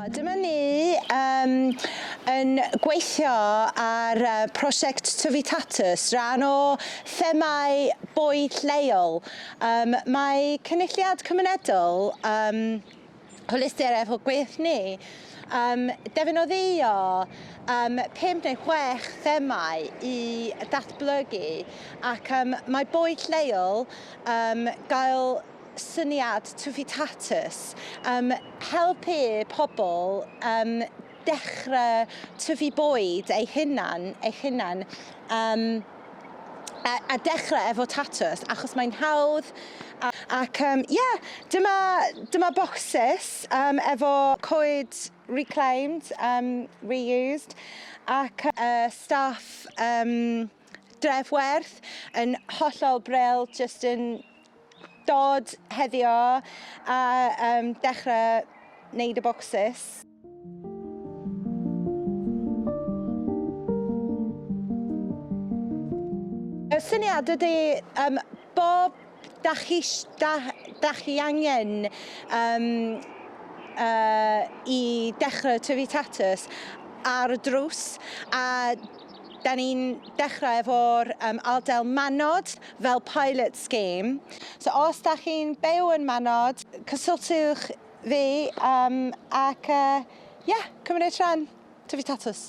Dyma ni um, yn gweithio ar uh, prosiect Tyfu Tatws, rhan o themau bwyd lleol. Um, mae Cynulliad Cymunedol um, hwylustr efo gweith ni. Um, defnyddio um, pum neu chwech themau i ddatblygu ac um, mae boed lleol um, gael syniad tufitatus, um, helpu pobl um, dechrau tyfu bwyd ei hunan, eich hunan, um, a, a dechrau efo tatws, achos mae'n hawdd, a, ac um, yeah, dyma, dyma bocsys um, efo coed reclaimed, um, reused, ac uh, staff um, drefwerth yn hollol bril, just yn Dod heddio a yym dechre neud y bocsys. Y syniad ydi yym bob dach chi sh- da- dach chi angen yym yy i dechre tyfu tatws ar y drws a Da ni'n dechrau efo'r um, ardal Manod fel pilot scheme. So os da chi'n byw yn Manod, cysylltwch fi um, ac ie, uh, yeah, cymryd rhan. Tyfu tatws.